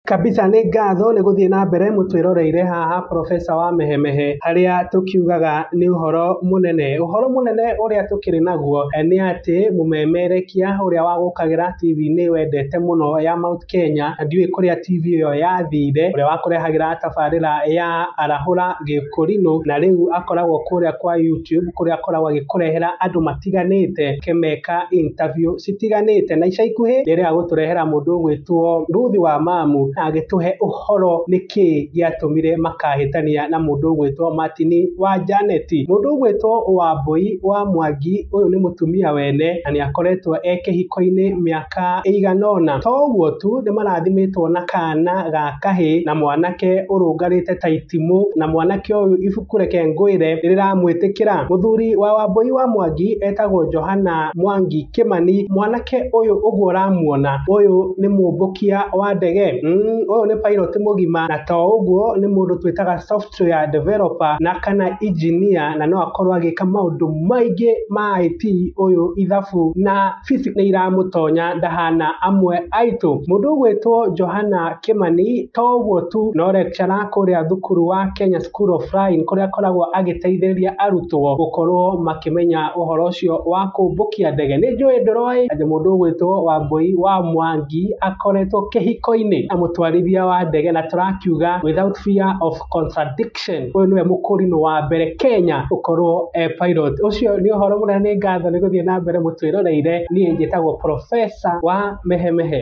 Kabisa nĩ ngatho nĩ gũthiĩ na mbere mũtwĩroreire haha professor wa Mehemehe harĩa tũkiugaga nĩ ũhoro mũnene. Ũhoro mũnene ũrĩa tũkĩrĩ naguo nĩ atĩ mũmemerekia ũrĩa wagũkagĩra TV-inĩ wendete mũno ya Mount Kenya, ndiũĩ kũrĩa TV ĩyo yathire, ũrĩa wakũrehagĩra tabarĩra ya Arahũra Gĩkũrinũ na rĩu akoragwo kũrĩa kwa YouTube kũrĩa akoragwo agĩkũrehera andũ ma... citiganĩte kĩmeka interview citiganĩte na ica ikuhĩ rĩrĩa agũtũrehera mũndũ ũgwĩtwo Ruth wa Mamu na agĩtũhe ũhoro nĩkĩ gĩatũmire makahĩtania na mũndũ ũgwĩtwo Martin wa Janet. Mũndũ ũgwĩtwo Wambũi wa Mwangi ũyũ nĩ mũtumia wene na nĩ akoretwo e kĩhiko-inĩ mĩaka ĩigana ũna. To ũguo tu nĩ marathimĩtwo na kana ga kahĩ na mwanake ũrũngarĩte ta itimũ na mwanake ũyũ ibuku Kũreke ngwĩre rĩramwĩtĩkĩra. Mũthuri wa Wambũi wa Mwangi etagwo Johana Mwangi Kĩmani. Mwanake ũyũ ũguo ũramuona, ũyũ nĩ mũmbũkia wa ndege. Umm ũyũ nĩ pilot mũgima na to ũguo nĩ mũndũ twĩtaga software developer na kana engineer na no akorwo agĩka maũndũ maingĩ ma IT ũyũ ithabu na Sisi nĩiramũtonya ndahana amwe aitũ. Mũndũ ũgwĩtwo Johana Kĩmani to ũguo tu no lecturer kũrĩa thukuru wa Kenya School of Flying kũrĩa akoragwo agĩteithĩrĩria arutwo gũkorwo makĩmenya ũhoro ũcio wa kũmbũkia ndege. Nĩnjũĩ ndũroĩ atĩ mũndũ ũgwĩtwo Wambũi wa Mwangi akoretwo kĩhiko-inĩ na mũtwarithia wa ndege na tũrakiuga without fear of contradiction. Action. Ũyũ nĩwe mũkũrinũ wa mbere Kenya gũkorwo e pilot. Ũcio nĩ ũhoro mũnene nĩ ngatho nĩ gũthiĩ na mbere mũtwĩroreire. Niĩ njĩtagwo Professor wa Mehemehe.